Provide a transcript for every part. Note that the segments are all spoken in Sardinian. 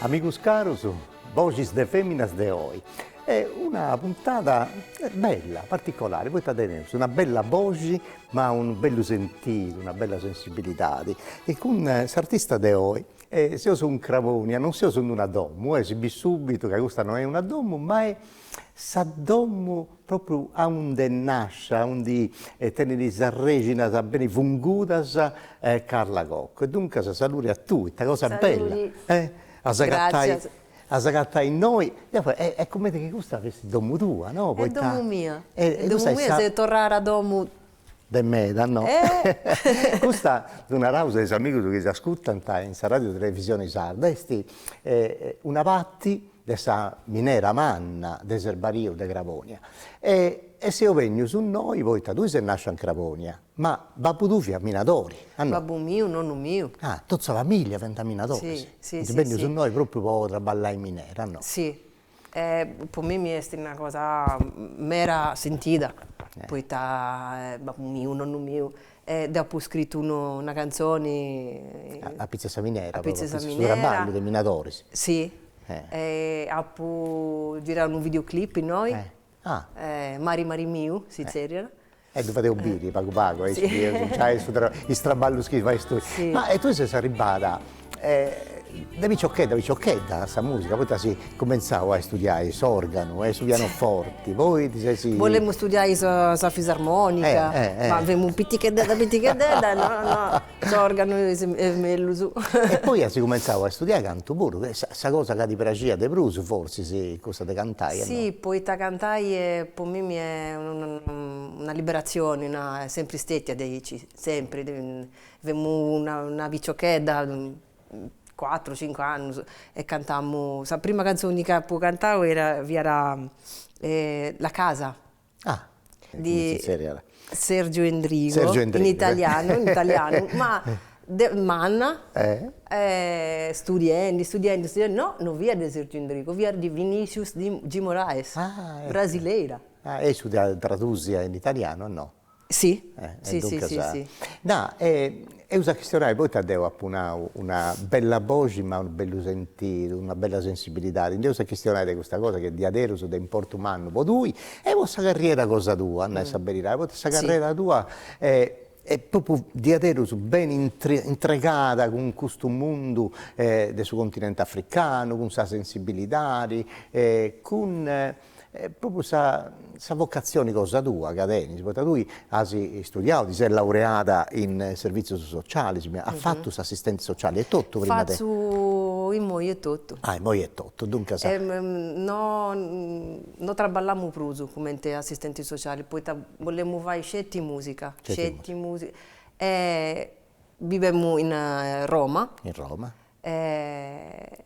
Amigos caros, Boxis de feminas de oi est una puntada bella, particolare, poita teneus una bella boxi ma unu bellu sentidu, una bella sensibilidadi e cun s'artista de oi seus in Crabonia, non seus in una domo, si bit subitu ca custa no est una domo ma est sa domo Propriu aundi nasci, aundi tenit sas rexinas beni fungudas Carla Cocco. E duncas saludi a tui, ita cosa bella a s'agatai a s'agatai innoi, deu faeddo e est cumenti chi custa fessit domu tua no, poita, est domu mia, est domu mia seu torrada a domu, de mei no, custa ddu naraus a is amigus chi s'ascutant in sa Radiu Televisioni Sarda, est una patti de sa minera manna de Serbariu de Crabònia e e seus bènnius innoi poita tui ses nàscia in Crabònia, ma babbu tuu fiat minadori, ah no? Babbu miu, nonnu miu. Ah, totu sa familia fiant minadoris. Si, si, si, si. Funt bènnius innoi pròpriu po traballai in minera, ah no? Si, e po mimi est una cosa mera sentida, poita babbu miu, nonnu miu, E dd'apu scritu unu una cantzoni. Apitzus 'e sa minera. Apitzus 'e sa minera. Su traballu de minadoris. Si. E apu girau unu video clip innoi. Ah. Mari mari miu si zerriat. E ddu fadeus biri pagu pagu aici bieus is traballus chi fais tui. Si. Ma e tui ses arribada De piciochedda piciochedda a sa musica, poita asi cumentzau a istudiai s'organu e su pianoforti, poi ti sesi. Bolemu istudiai sa sa fisarmonica, ma femu piticheddedda piticheddedda no no s'organu est est mellus. E poi asi cumentzau a istudiai cantu puru, chi est sa cosa ca ti praxiat de prus forsis, cussa de cantai o no? Si, poita cantai est po mimi est una liberatzioni, no, est sempri stetia diaici, sempri Femu una una piciochedda, cuatru cincu annus e cantamu, sa prima canzoni ca apu cantau era fiat La casa di Sergio Endrigo, in italianu in italianu ma de manna studiendi studiendi studiendi no no fiat de Sergio Endrigo fiat de Vinicius de Moraes, brasileira. E issu dd'at tradusia in italianu o no? Si, si si si si. Nd'eus a chistionai, poita deu apu nau una bella boxi ma unu bellu sentidu, una bella sensibilidadi, nd'eus a chistionai de custa cosa chi est diaderus de importu mannu po tui e po sa carriera cosa tua, a nai sa beridadi, poita sa carrera tua est propriu diaderus beni intregada cun custu mundu de su continenti africanu, cun sa sensibilidadi, cun e propriu sa sa vocatzioni cosa tua ca tenis, poita tui as istudiau, ti ses laureada in servizios socialis, as fatu s'assistenti sociali etotu prima de. Fatzu immoi etotu. Ah immoi etotu, duncas. No no traballamu prus cumenti assistenti sociali poita bolemu fai sceti mùsica, sceti mùsica e bivemu in Roma. In Roma. E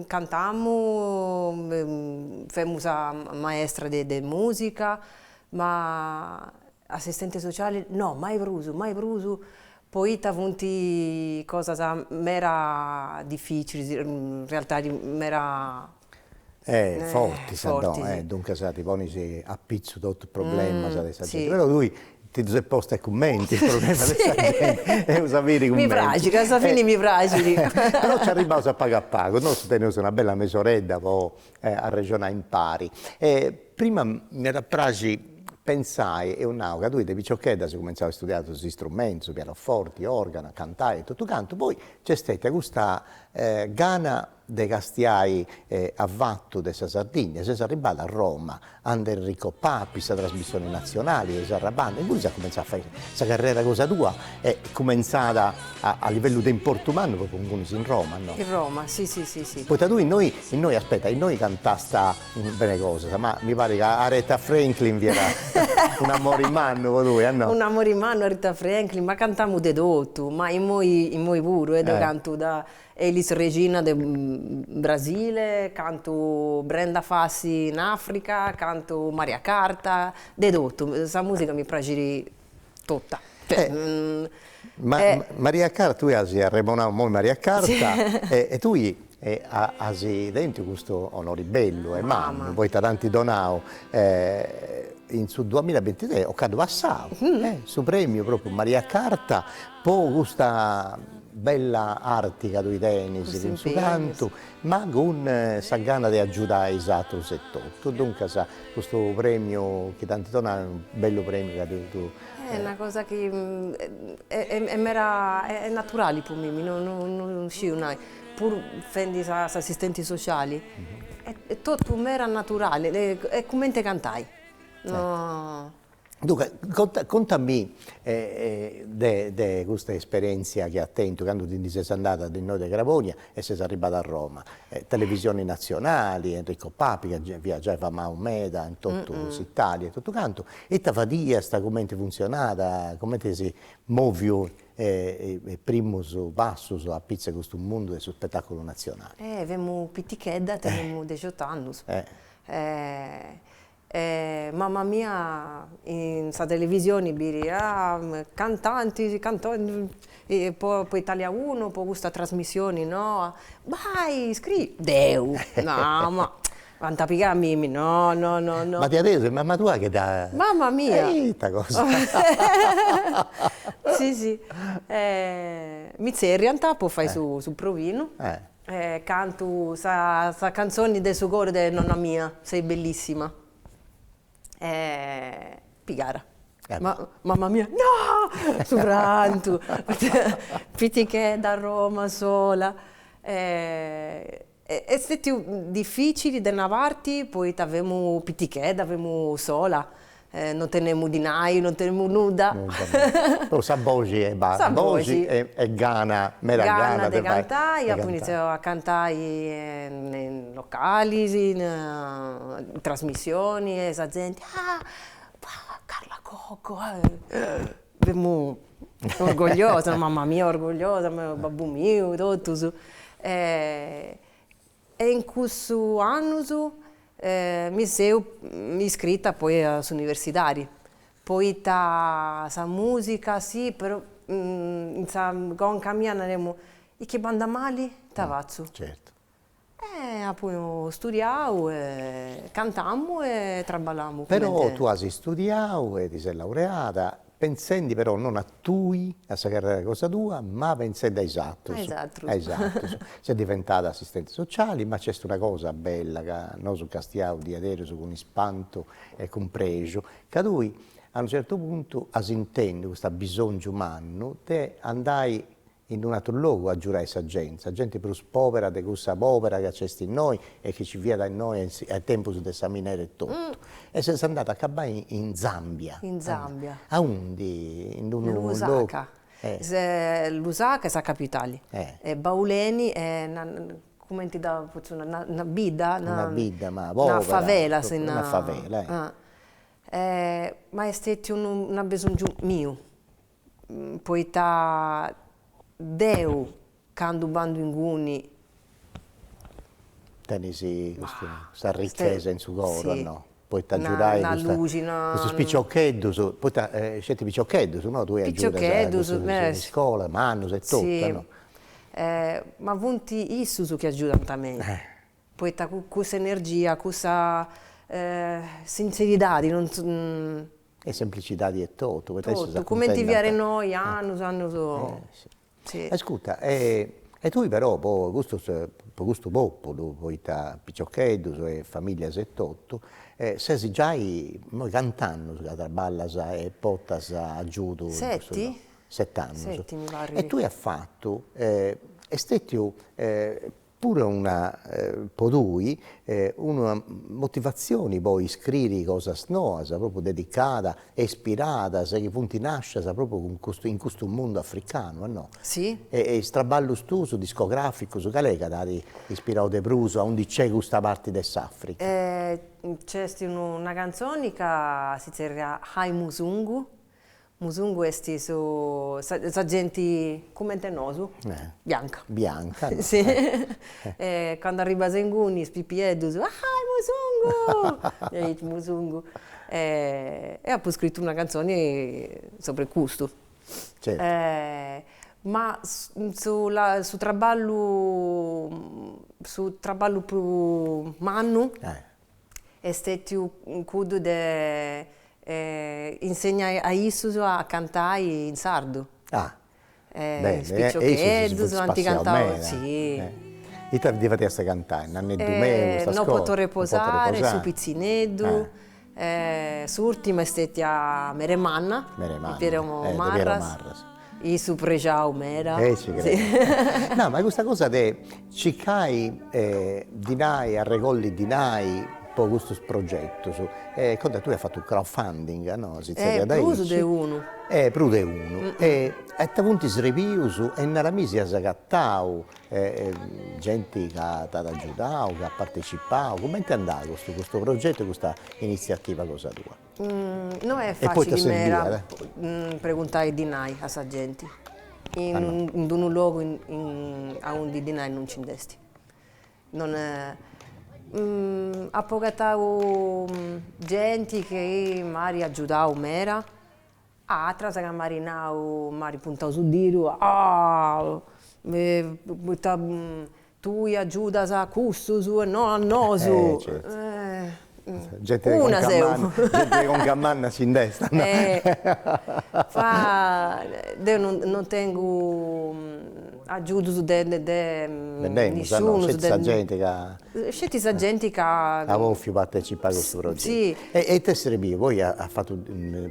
cantamu, femu sa maestra de mùsica, ma assistente sociale no, mai prus, mai prus, poita funt cosas mera dificilis, in realtadi mera fortis ant a domo, duncas ti ponis a pitzu totus is problemas de sa genti, però tui ti ddus ses posta cumenti is problemas de sa genti, eus a biri cumenti. Mi praxit, ca a sa fini mi praxit. Però nci arribbaus a pagu a pagu, nosu teneus una bella mesoredda po arrexonai impari. Prima m'iat a praxi pentzai, eus nau ca tui de piciochedda as cumenzau a istudiai totus is istrumentus, su pianoforti, organu, cantai e totu cantu, poi nc'est stètia custa gana de castiai a fatu de sa Sardigna, ses arribada a Roma ande Enrico Papi sa trasmissioni nazionali de Sarabanda, inguni ses cumentzada a fai sa carrera cosa tua est cumentzada a livellu de importu mannu po po ingunis in Roma no? In Roma si si si si. Poita tui innoi innoi aspetta innoi cantasta bene cosas ma mi parit ca Aretha Franklin fiat un'amori mannu po tui no? Un'amori mannu Aretha Franklin ma cantamu de totu ma immoi immoi puru e deu cantu da Elis Regina de Brasile, cantu Brenda Fassie in Africa, cantu Maria Carta, de totu, sa musica mi praxit tota. Maria Carta, tui as arremonau immoi Maria Carta e tui as tentu custu onori bellu e mannu poita tanti donau in su duamilla e bintitrès ocannu passau su premiu propriu Maria Carta po custa Bella arti ca tui tenis cun su cantu, ma cun sa gana de agiudai is atrus etotu. Duncas custu premiu chi t'ant donau est unu bellu premiu ca tui. Est una cosa chi est mera, est naturali po mimmi, non sciu nai, puru fendi s'assistenti sociali, est totu mera naturali, est cumenti cantai. Duncas conta contamì de de custa esperienzia chi as tentu candu ti ndi ses andada de innoi de Crabonia e ses arribbada a Roma, televisioni nazionali, Enrico Papi ca fiat giai famau meda in totu s'Italia e totu cantu, ita fadiast, cumenti funzionat, cumenti as moviu is primus passus apitzus de custu mundu de su spetaculu nazionali. Femu pitichedda, tenemu dexiott'annus E mamma mia in sa televisioni biriat cantanti po po Italia uno po custa trasmissioni noa, bai iscri, deu, no ma ant a pigai a mimi no no no no. B'at tesu est mamma tua chi dda. Mamma mia. E ita cosa. Sì sì mi tzerriant po fai su su provinu. E cantu sa cantzoni de su coru de nonna mia, sei bellissima. E pigara. Mamma mia, no! Su prantu, pitichedda a Roma sola. Est stetiu dificili de una parti poita femu pitichedda, femu sola, Non tenemu dinai, non tenemu nudda. Però sa boxi e basta. Sa boxi e gana, meda gana de cantai. Gana de cantai, apu initziau a cantai in localis, in trasmissioni e sa genti, ah Carla Cocco, femu orgogliosa, mamma mia orgogliosa, babbu miu, totus. E in cussus annus mi seu iscrita poi a s'universidadi, poita sa musica sì però in sa conca mia naremu, e chi bandat mali ita fatzu? E apu studiau e cantamu e traballamu cumenti. Però tu as studiau e ti ses laureada Pentzendi però non a tui, a sa carrera cosa tua, ma pentzendi a is atrus. A is atrus. A is atrus. Ses diventada assistenti sociali, ma nc'est una cosa bella ca nosu castiaus diaderus cun ispantu e cun prexu, ca tui a unu certu puntu as intendu custa bisongiu mannu de andai in un'atru logu a agiurai sa genti, sa genti prus pòbera de cussa pòbera ca nc'est innoi e chi nci fiat innoi a tempus de sa minera etotu, e ses andada a acabai in Zambia, in Zambia, aundi, in unu logu, Lusaka, Lusaka est sa capitali, e Bauleni est cumenti dda potzu nai, una bidda, una bidda ma pòbera, una favela, una favela, e ma est stetiu unu, una besongiu miu poita deu candu b'andu inguni. Tenis custa arrichesa in su coro e no, poita agiudas custus piciocheddus, poita aceti piciocheddus no, tui as piciocheddus in iscola, mannus etotu e no. Ma funt issus chi agiudant mei, poita cussa energia, cussa sinzeridadi non E semplicidadi 'e totu, poita issus s'acuntentant de totu, cumenti fiat innoi, annus annus. Ascurta, e tui però po custus, po custu populu, poita piciocheddus e familias e totu, ses giai innoi cant'annus ca traballas e portas agiudu. Seti. Set'annus. Seti mi parrit. E tui as fatu, e est stetiu puru una po tui una motivazioni po iscriri cosas noas propriu dedicadas e ispiradas chi funt nascias propriu cun custu in custu mundu africanu e no? Si. E e is traballus tuus discograficus cal'est chi t'at ispirau de prus a undi nc'est custa parti de s'Africa? Nc'est una cantzoni ca si zerriat Hai Musungu Musungu est su sa genti cumenti e nosu, bianca. Bianca no. Si e candu arribas a inguni is pipieddus, hai Musungu, hai Musungu e e apu scritu una cantzoni sopra 'e custu. Certu. Ma su su traballu su traballu prus mannu est stètiu cuddu de insegnai a issus a cantai in sardu. Ah, beni, is piciocheddus ant cantau, sì. Ita ddis fadiast cantai, Nanneddu meu, custas cosas? Non poto reposare, Su pitzineddu, s'ùrtima est stètia Meremanna, Meremanna, de Piero Marras. Issu prexau meda. E ci credo. No, ma custa cosa de circai dinai, arregolli dinai po custus progetus, e candu tui as fatu unu crowd funding, no, si zerriat aici. Prus de unu. E prus de unu. E ita funt is prèmius e nara mi si as agatau genti ca t'at agiudau, ca at partecipau, cumenti andat custu progetu e custa iniziativa cosa tua? No est fàtzile mera preguntai dinai a sa genti in unu logu aundi dinai non nci nd'est. Non apo agatau genti chi m'at agiudau mera Atras ca m'ari nau, m'ari puntau su didu, a poita tui agiudas a cussus e no a nosu. E certu. No seu. Genti de conca manna s'intendit. Ma deu non tengu agiudus de de nisciunus sceti sa genti ca sceti sa genti ca at bofiu partecipai a custu progetu si e e ite est serbiu poi as fatu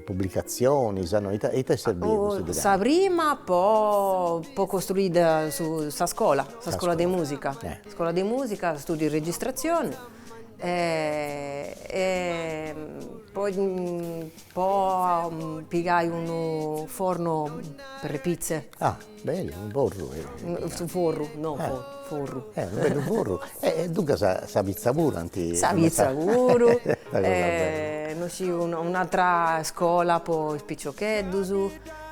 publicatzionis no ite ite est serbiu custu dinai sa prima po po costruiri su sa scola sa scola de musica scola de musica studiu de registratzioni e poi po pigai unu forno per le pizze ah Beni unu forru su forru no forru unu bellu forru e duncas sa sa pitza puru sa pitza puru e nosu un'atra iscola po is piciocheddus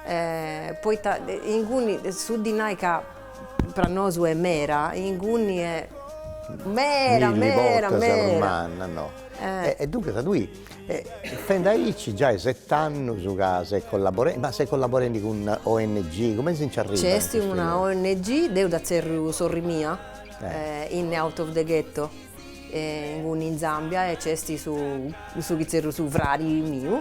e poita inguni su dinai ca pro nosu est mera inguni est mera mera mera e duncas tui Fendi aici giai set'annus ca ses collaborendi, ma ses collaborendi cun una ong, cumenti si nci arribat? Nci est una ong, deu dda tzerriu sorri mia, in out of the ghetto, inguni in Zambia e nci est su, cussu chi tzerriu su fradi miu,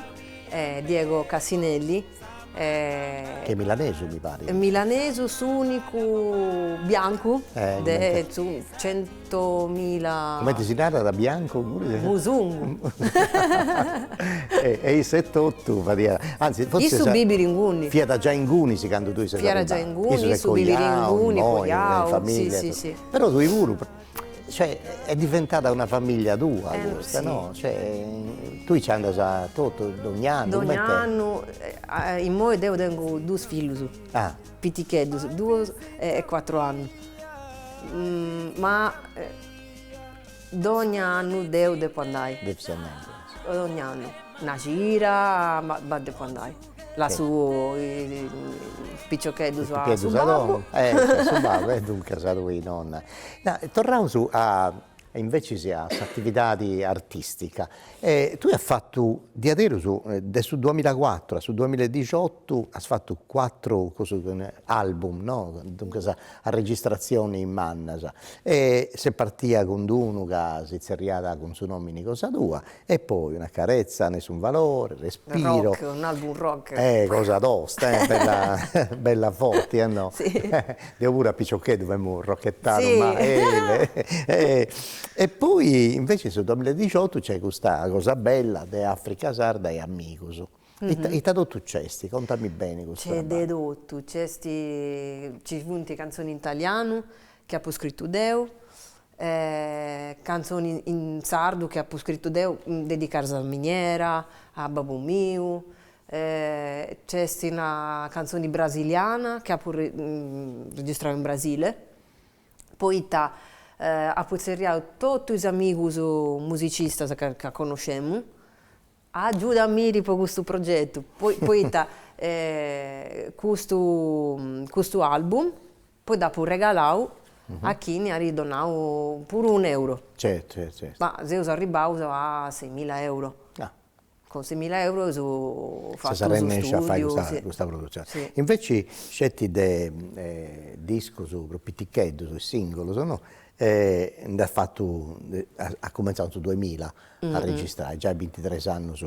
Diego Cassinelli, Chi est milanesu mi parit. Milanesu s'unicu biancu de centomila. Comenti si narat biancu. Musungu. E issu etotu fiat. Anzis forsis. Issu bibit inguni. Fiat già inguni candu tui ses arribada. Fiat già inguni, issu bibit inguni coiau. Issu est coiau, in familia. Però tui puru. Cioè est diventada una famiglia tua custa no, cioè tui nci andas a totu dogn'annu, coment'est? Dogn'annu, immoi deu tengu duus fillus piticheddus, duus e cuatru annus, ma dogn'annu deu depu andai, dogn'annu, una cida ma depu andai Lassu is piciocheddus a su babbu. E a su babbu e duncas aiaiu e nonna. Torraus invecis a s'atividadi artistica, tui as fatu diaderus de su duamilla e cuatru a su duamilla e dixotu as fatu cuatru cussus album no, duncas arregistrazionis mannas, e s'est partia cun d'unu ca si tzerriat cun su nomini cosa tua E poi una carezza nessun valore, Respiro. Rock, un album rock. Eh cosa tosta eh, bella bella forti eh no? Si. Deo puru a piccioccheddu femu rocchettaru ma eh E poi invece in su duamilla e diciottu c'è custa cosa bella de Africa Sarda e Amigus. Ita totu c'esti? Contami beni custu traballu. C'è de totu, c'esti, ci funt canzoni in talianu chi apu scrittu deu, e cantzoni in sardu chi apu scritu deu dedicadas a miniera, a babbu miu, c'est una cantzoni brasiliana chi apu registrau in Brasile, poita apu tzerriau totu is amigus musicistas ca connoscemu, agiuda·mì po custu progetu, poita custu custu album Poi dd'apo regalau a chini at donau puru unu euro. Certu, certu, certu. Ma seus arribbaus a seimilla euro. Ah. Cun seimilla euro eus fatu su studiu. Ses arrenesciu a fai custa custa produtzioni. Si. Inveci sceti de discus prus piticheddus e singulus, no, nd'as fatu, as cumenzau in su duemilla a registrai, giai bintitres annus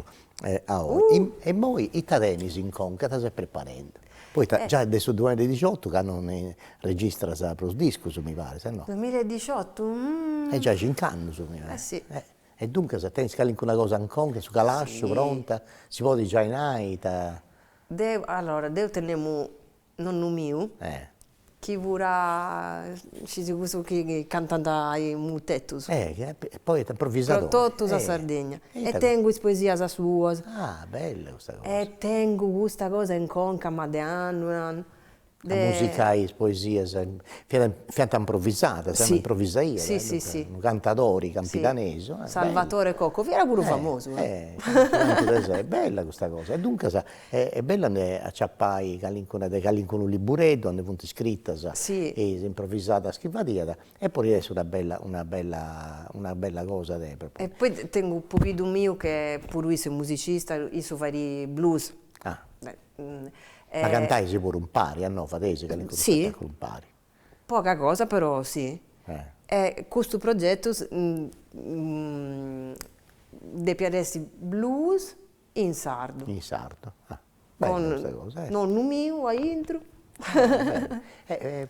a oi e immoi ita tenis in conca, ita ses preparendi, poita già de su duamilla e diciottu ca non registras prus discus mi paris e no? Duamilla e diciottu E già cincu annus mi paris. E si E duncas tenis calincuna cosa in conca, su calasciu pronta, si podit giai nai ita. Deu, allora, deu tenemu nonnu miu chi fiat, scis cussus chi cantant i mutetus poeta improvvisadori in totu sa Sardigna e tengu is poesias suas e tengu custa cosa in conca ma de annus de musicai is poesias fiat fiant improvvisadas si improvvisaiat si si si unu cantadori campidanesu Salvatore Coco fiat puru famosu e bella custa cosa e duncas E est bellu a nde aciapai calincuna de calincunu libureddu aundi funt iscritas is improvisadas chi fadiat e podit essi una bella una bella una bella cosa de e poi tengu a pobiddu miu che puru issu est musicista issu fait blues ma cantais puru impari o no fadeis calincunu spettaculu impari poca cosa però si e custu progettu depiat essi blues In sardu. In sardu ah bella custa cosa e. Nonnu miu a intro.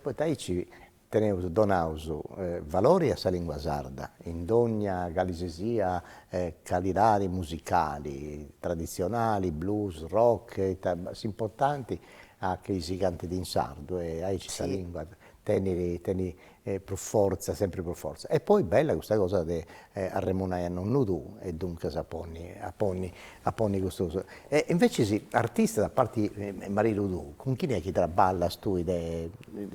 Poita aici teneus donaus valori a sa lingua sarda in dogna cali si sia calidadi musicali, traditzionali, blues, rock, ita s'importanti est chi si cantit in sardu e aici sa lingua tenit tenit E pro fortza, sempre pro fortza. E poi bella custa cosa de arremunai a nonnu tuu e duncas a ponni a ponni a ponni custu coso. E invece is artistas a parti 'e maridu tuu, cun chini è chi traballas tui de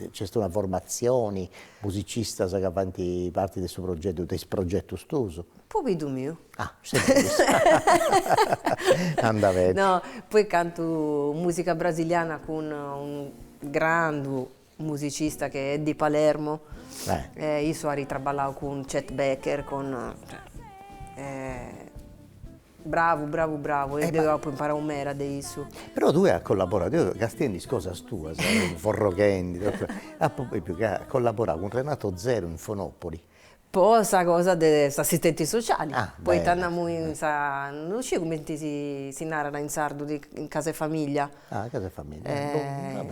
nc'est una formatzioni, musicistas ca faint parti de su progetu, de is progetus tuus? Pobiddu miu. Ah anda beni. No, poi cantu musica brasiliana cun unu grandu musicista che est di Palermo e issu at traballau cun Chet Baker, con, bravu bravu bravu e deu apu imparau meda de issu. Però tui as collaborau, deo castiendi is cosas tuas, forroghendi, apu biu ca as collaborau cun Renato Zero in Fonopoli Po sa cosa de s'assistenti sociali, poita andamu in sa, no sciu cumenti si narat in sardu, in casa 'e famiglia,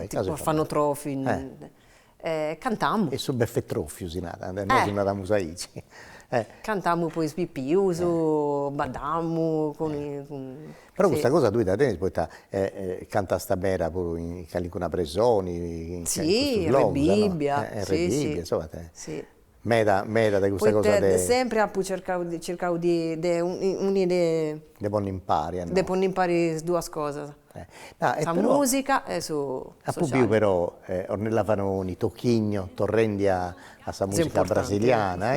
tipo orfanotrofi, e cantamu. Su beffetrofiu si narat, nosu naramus aici. Cantamu po is pipius, baddamu cun Però custa cosa tui dda tenis poita cantas meda puru in calincuna presoni in cussus logus no, Rebibbia, si meda meda de custa cosa de, sempre apu cercau de circau de de uniri de de ponni impari de ponni impari is duas cosas sa musica e su apu biu però Ornella Vanoni, Toquinho, torrendi a sa musica brasiliana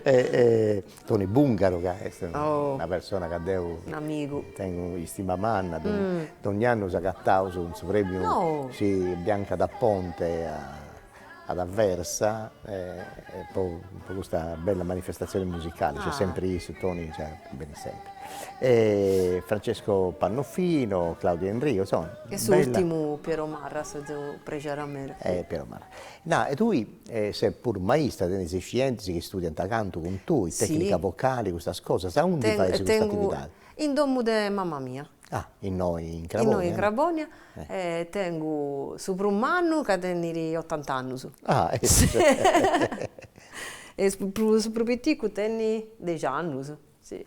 e Toni Bungaro ca est una persona ca deo tengo istima manna, donni'annu s'agattaus cun su premiu Bianca d'Aponte ad Aversa po custa bella manifestazione musicale, nc'est sempri issu Toni benit sempri e Francesco Pannofino, Claudio Enrico insomma bella. E s'urtimu Piero Marras, seu prexera meda. E Piero Marras, nara e tui E ses puru maista, tenis scientis chi studiant cantu cun tui, tecnica vocali, custas cosas, aundi fais custa attividadi? In domu de mamma mia. Ah, innoi in Crabònia. Innoi in Crabònia e tengu su prus mannu ca tenit otant'annus. Ah e su prus piticu tenit dexi annus, si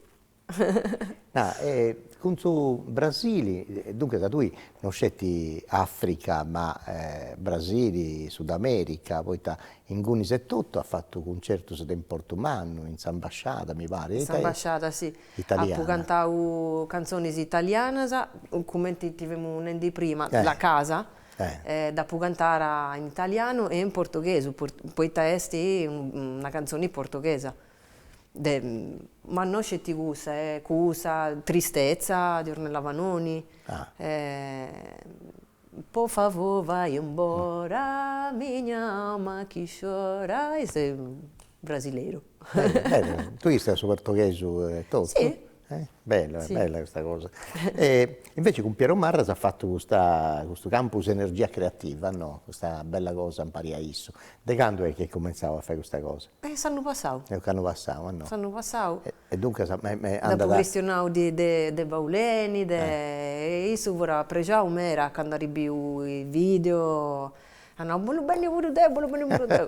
Ah e cun su Brasili, duncas ca tui no sceti Africa ma Brasili, Sudamerica, poita ingunis etotu as fatu cuncertus de importu mannu in s'ambasciada mi parit, in s'ambasciada si, apu cantau cantzonis italianas, cumenti ti femu nendi prima, la casa, dd'apu cantara in italianu e in portughesu, poita est una cantzoni portughesa. de ma no sceti cussa e cussa tristetza de Ornella Vanoni e po favor vai embora minha alma que chora e su brasileiro. Bellu bellu, tui istudias su portoghesu e totu? Si E bella bella custa cosa, e invece cun Piero Marra as fattu custa custu campus energia creativa no, custa bella cosa impari a issu, de candu est chi eis comintzadu a fai custa cosa? E s'annu passadu. S'annu passadu no. S'annu passadu. E duncas me me andat. Dd'apo chistionadu de de de Bauleni de e issu fut prexau meda candu at biu is videos Ah no, bolu benni puru deu, bolu benni puru deu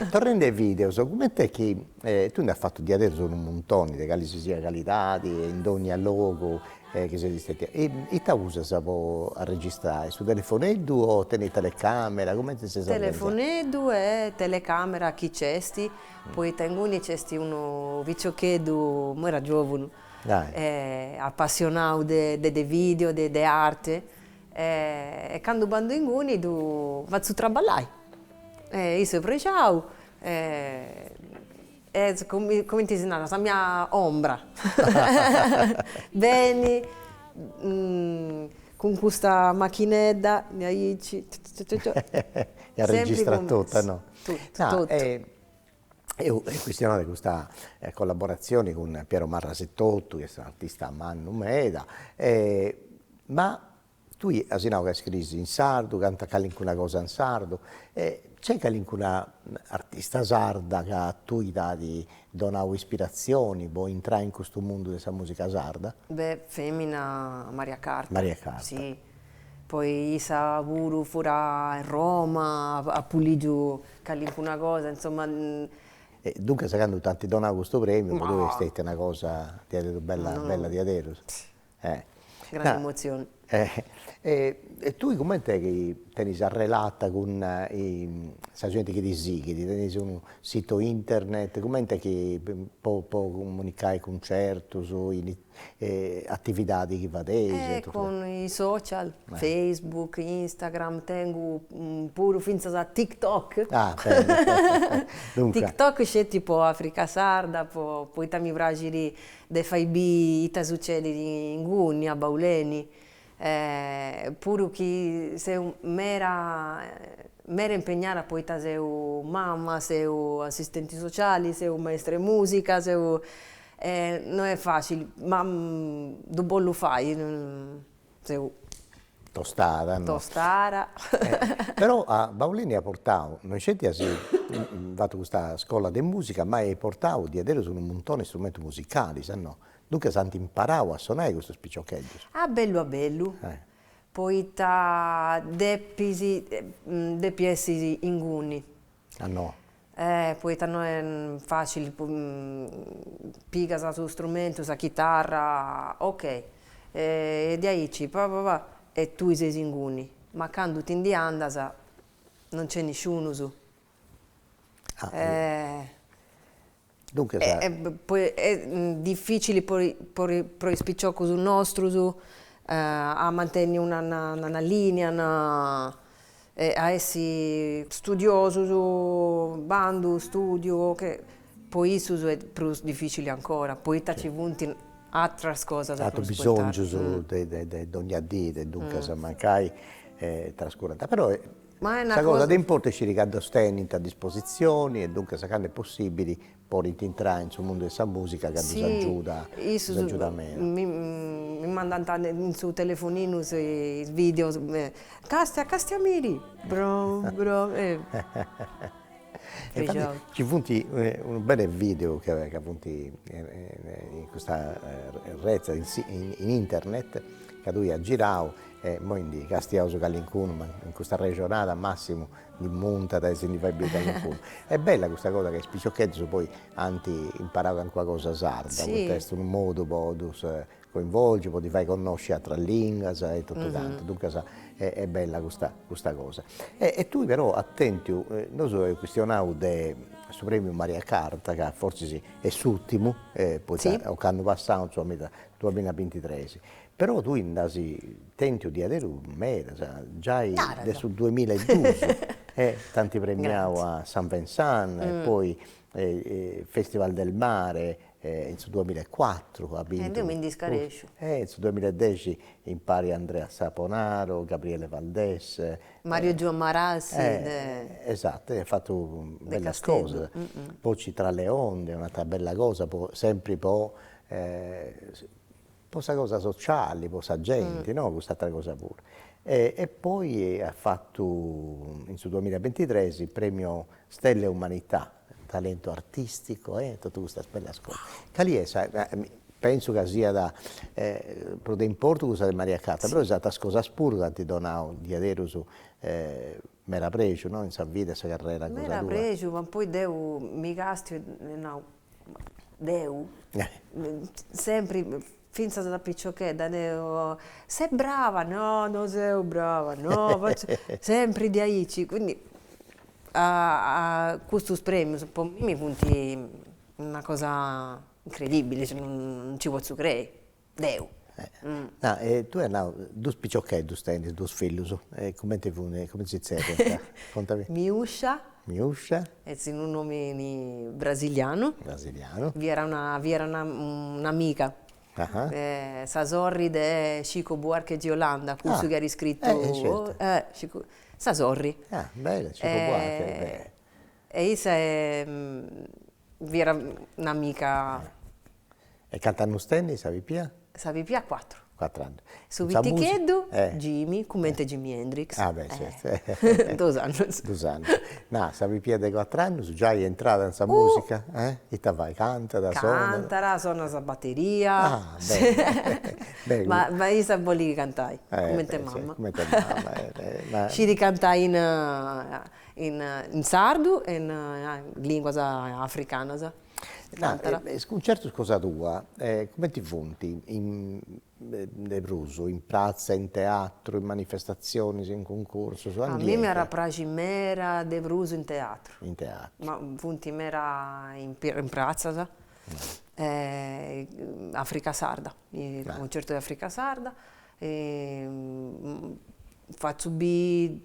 Torrendi ai videos, comente chi tui nd'as fatu diaderus unu muntoni de cali si siat calidadi e in dogna logu chi ses istetia, ita usas po arregistrai, su telefoneddu o tenis telecamera, cumenti ses organizada? Telefoneddu e telecamera chi nc'est, poita inguni nc'est unu piciocheddu, imoi est giovunu, apassionau de de video, de arte E candu bandu inguni ddu fatzu traballai. E issu est prexau e est cumenti si narat sa mia ombra. Benit cun custa machinedda mi aici. E arregistrat totu. Totu. Eus chistionau de custa collaborazione cun Piero Marras etotu chi est un'artista mannu meda e ma tui as nau ca iscriis in sardu, cantas calincuna cosa in sardu e nc'est calincuna artista sarda ca a tui t'at donau ispirazione pro intrai in custu mundu de sa musica sarda? Beh, femina Maria Carta, Maria Carta, si Poi issa puru fut a Roma apu ligiu calincuna cosa insomma. E duncas candu t'ant donau custu premiu po tui est stetia una cosa diaderus bella bella diaderus. Grande emozione. E tui cument'est chi tenis arrelata cun sa genti chi ti sighit, tenis unu sito internet, cumenti chi po po comunicai cuncertus o E atividadi chi fais? E cun is social, Facebook, Instagram, tengu puru fintzas a TikTok. Ah beni. TikTok sceti po Africa Sarda po poita mi praxit de fai biri ita sucedit inguni a Bauleni. E puru chi seu mera mera impegnada poita seu mama, seu assistenti sociali, seu maestra 'e musica, seu e no est facili, ma ddu bollu fai, seu tostada no, tostada però a Baulini at portau, no isceti as fatu custa scola de musica, ma at portau diaideros unu muntoni 'e strumentus musicalis, no, Duncas ant imparadu a sonai custus piciocheddus. A bellu a bellu. Poita depis depi essi inguni. Ah no. Eh poita no est facili, pigas su strumentu, sa chitarra, ok e diaici pa pa pa e tui ses inguni, ma candu ti ndi andas non nc'est nisciunus difficili po po is piciocus nostrus a mantenni una una linea e a essi studiosus, bandu, studiu ca po issus est prus difficili ancora poita ci funt atteras cosas aterus bisongius de de de dogna dì e duncas mancai trascurant però Sa cosa de importu est sciri ca ddos tenint a dispositzioni e duncas cando est possibili podint intrai in su mundu de sa musica ca ddos agiuda, ddos agiuda meda. Mi mandant in su telefoninu is videos, Castia, Castia Miri, brom brom e Infattis ci funt unus bellus video ca ca funt in custa retza in internet ca tui as girau E immoi ndi castiaus calincunu, ma in custa arrexonada Massimu ndi muntat e si ndi fait biri calincunu. Est bella custa cosa ca is piciocheddus poi ant imparau calincuna cosa sarda, poita est unu modu po ddus coinvolgi, po ddi fai connosci atras linguas e totu cantu, duncas est bella custa custa cosa. E tui però at tentiu, nosu eus chistionau de su premiu Maria Carta ca forzis est s'urtimu, poita, ocannu passau, insoma, in su duamilla bintitres Però tui nd'as tentiu diaderus medas, giai de su duemilla e duus t'ant premiau a Saint Vincent e poi Festival del Mare in su duemilla e cuatru as bintu. E deu mi ndi scaresciu. E in su duemilla e dexi impari a Andrea Saponaro, Gabriele Valdés. Mario Giua Marassi de. Esatu, as fatu bellas cosas. Voci tra le onde, un'atera bella cosa po, sempri po po sa cosa sociali, po sa genti no, cust'atera cosa puru e poi at fatu in su duamilla e bintitres premio stelle e umanità, talento artistico e totu custas bellas cosas, cali est sa penso ca siat prus de importu cussa de Maria Carta, però is ateras cosas puru t'ant donau diaderus meda prexu no, in sa vida e sa carrera cosa tua. Meda prexu ma poi deu mi castiu e nau deu sempri finzas da piciochedda deu ses brava, no no seu brava no sempri de aici, quindi custus premius po mimi funt una cosa incredibbili, cioè non ci potzu crei deu. Nau, e tue nau, dus piciocheddus tenis, dus fillus, e cumenti fun, cumenti si zerriant, contami. Miuscia. Miuscia. Est unu nomini brasilianu. Brasilianu. Fiat una, fiat una un'amiga. Sa sorri de Chico Buarque de Hollanda, cussu chi at iscritu. Eh certu. Eh, Chico, sa sorri. Ah, beni, Chico Buarque, beni. E issa Fiat un'amica. E cant'annos tenit sa pipia? Sa pipia cuatru. Cuatru annos. Su piticheddu Jimi, cummente Jimi Hendrix. Ah beh certu. Duos annos. Duos annos. Nah, sa pipia de cuatru annos già est intrada in sa musica? Eh? Ita fait? Cantat, sonat? Cantat, sonat sa batteria. Ah bene. Ma issa bolit cantai, cummente mama. Cummente mama. Scit cantai in In sardu e in lìnguas africanas. Is cuntzertos cosa tua cumenti funt? De prus, in pratza, in teatru, in manifestatzionis, in cuncursus? A mie m'iat a praxi meda de prus in teatru. In teatru. Ma funt meda in pratzas, Africa Sarda, cuncertu de Africa Sarda fatzu biri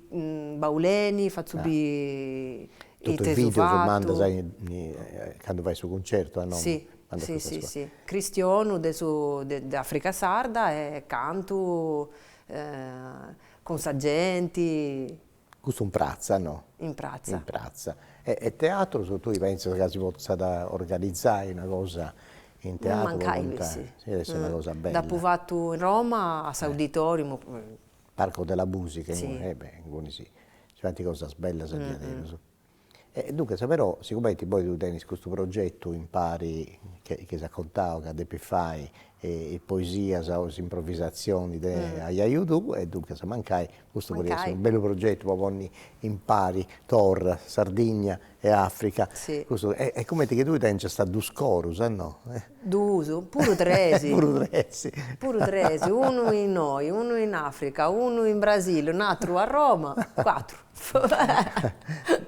Bauleni, fatzu biri totu is videos, mandas candu fait su cuncertu a nomu. Si si si si, cristionu de su de Africa Sarda e cantu cun sa genti Custu in pratza, no? In pratza. In pratza. E teatrus, tui pentzas ca si potzat organizai una cosa in teatru? Mancai si. Est una cosa bella. Dd'apu fatu in Roma a s'Auditorium. Parco della Musica. Si. E beh, inguni si si faint cosas bellas a diaderus. E duncas però sigomenti poi tui tenis custu progetu impari che che as contadu ca depis fai is poesias o is improvisatzionis de ajaju tuu e duncas mancai custu podit essi unu bellu progetu po ponni impari torra, Sardigna e Africa Eja. Est cumenti chi tui tèngiast duus corus, no? Duus, puru tres, puru tres, puru tres, unu innoi, unu in Africa, unu in Brasili, un'aturu a Roma, cuatru.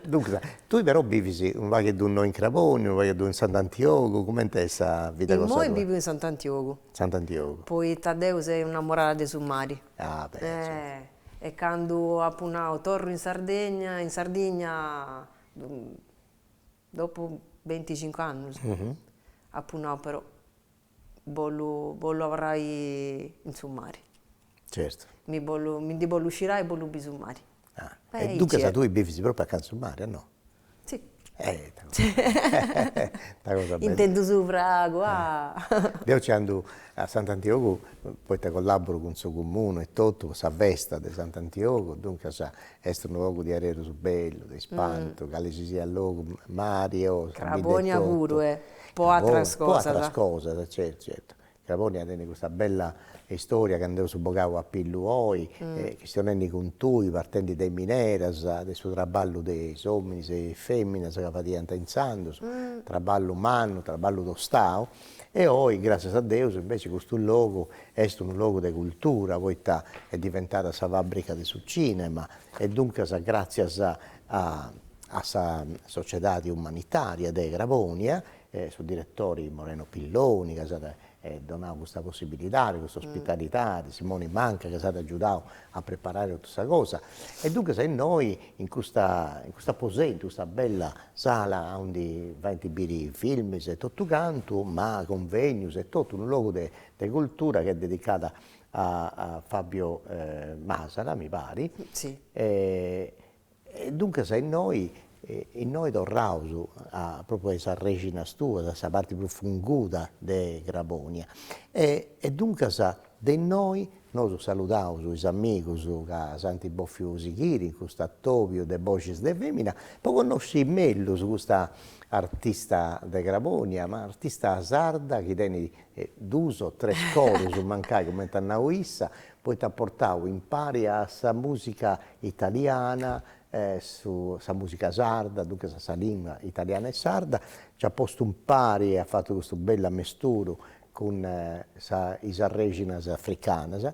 Duncas, tui però bivis unu pagheddu innoi in Crabònia, unu pagheddu in Sant'Antiogu, comenti est sa vida cosa tua? Immoi bivu in Sant'Antiogu. Sant'Antiogu. Poita deu seu innamorada de su mari. Ah beni. E candu apu nau torru in Sardegna, in Sardigna, dopu benticincu annus apu nau però bollu bollu abarrai in su mari. Certu. Mi bollu mi ndi bollu scirai e bollu bi su mari. Ah, e duncas tui bivis propriu acanta 'e su mari, no? Si. Cosa bella. Intendu su fragu, ah. Deu nci andu a Sant'Antiogu poita collaburu cun su comunu e totu po sa festa de Sant'Antiogu, duncas est unu logu diaderus bellu, de ispantu, cali si siat logu, mari e osi. Crabonia puru, eh. Po atras cosas. Po atras cosas, certu, certu. Crabonia tenit custa bella istoria ca nd'eus bogau a pillu oi, chistionendi cun tui, partendi de mineras, de su traballu de is ominis e is feminas ca fadiant intzandus, traballu mannu, traballu tostau, e oi, gràssias a Deus, inveci custu logu est unu logu de cultura, poita est diventada sa fabbrica de su cinema, e duncas gràssias a a sa sociedadi umanitaria de Crabònia, su diretori Moreno Pilloni ca s'at donau custa possibilidadi, custa ospitalidadi, Simoni Manca ca s'at agiudau a preparai totu sa cosa e duncas innoi in custa in custu aposentu, custa bella sala aundi faint biri filmis e totu cantu ma cunvegnius e totu, unu logu de cultura chi est dedicada a Fabio Masala mi pari e duncas a innoi innoi torraus a propriu a is arrexinas tuas a sa parti prus funguda de Crabonia e e duncas de innoi nosu saludaus is amigus ca s'ant bòfiu sighiri in custu atobiu de boxis de femina po connosci mellus custa artista de Crabonia ma artista sarda chi tenit e duus o tres corus mancai cumenti at nau issa, poita at portau impari a sa musica italiana e sa musica sarda, duncas a sa lingua italiana e sarda, nc'at postu impari e at fatu custu bellu amesturu cun is arrexinas africanas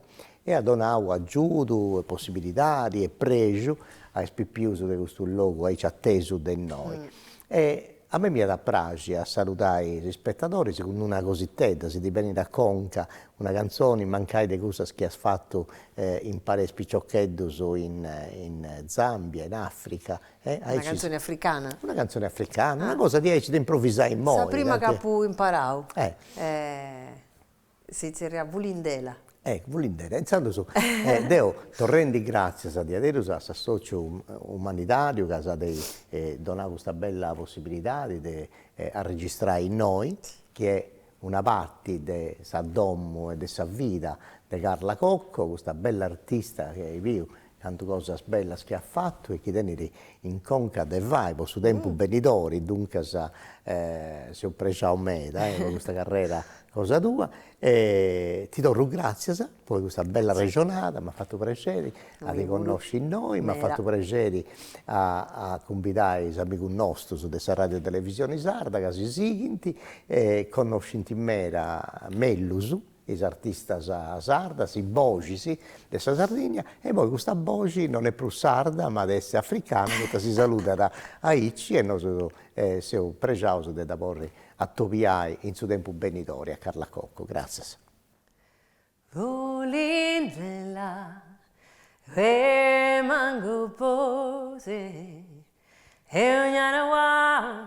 e at donau agiudu e possibilidadi e prexu a is pipius de custu logu aici atesu de innoi e A mei m'iat a praxi a saludai is ispetadoris cun una cositedda, si ti benit a conca, una cantzoni, mancai de cussas chi as fatu impari a is piciocheddus in in Zambia, in Africa, e aici. Una cantzoni africana. Una cantzoni africana, una cosa diaici de improvisai immoi. Sa prima chi apu imparau. Eh. Si zerriat Vulindela. Ecco Vulindela, intzandus deu torru gratzias a diaderus a s'assòciu umanidàriu ca s'at donau custa bella possibilidadi de arregistrai innoi, chi est una parti de sa domu e de sa vida de Carla Cocco, custa bella artista chi eis biu Cantu cosas bellas chi at fatu e chi tenit in conca de fai po su tempus benidori, duncas seu prexau meda po custa carrera cosa tua e ti torru gratzias po custa bella arrexonada, m'at fatu prexeri a ti connosci innoi, m'at fatu prexeri a cumbidai is amigus nostus de sa Radiu Televisioni Sarda chi si sighint e connoscint meda mellus is artistas sardas, is boxis de sa Sardigna e poi custa boxi non est prus sarda ma at essi africana poita si saludat aici e nosu seus prexaus de dda podi atobiai in su tempus benidori a Carla Cocco. Gratzias. Vulindela remangu po se e ognana uau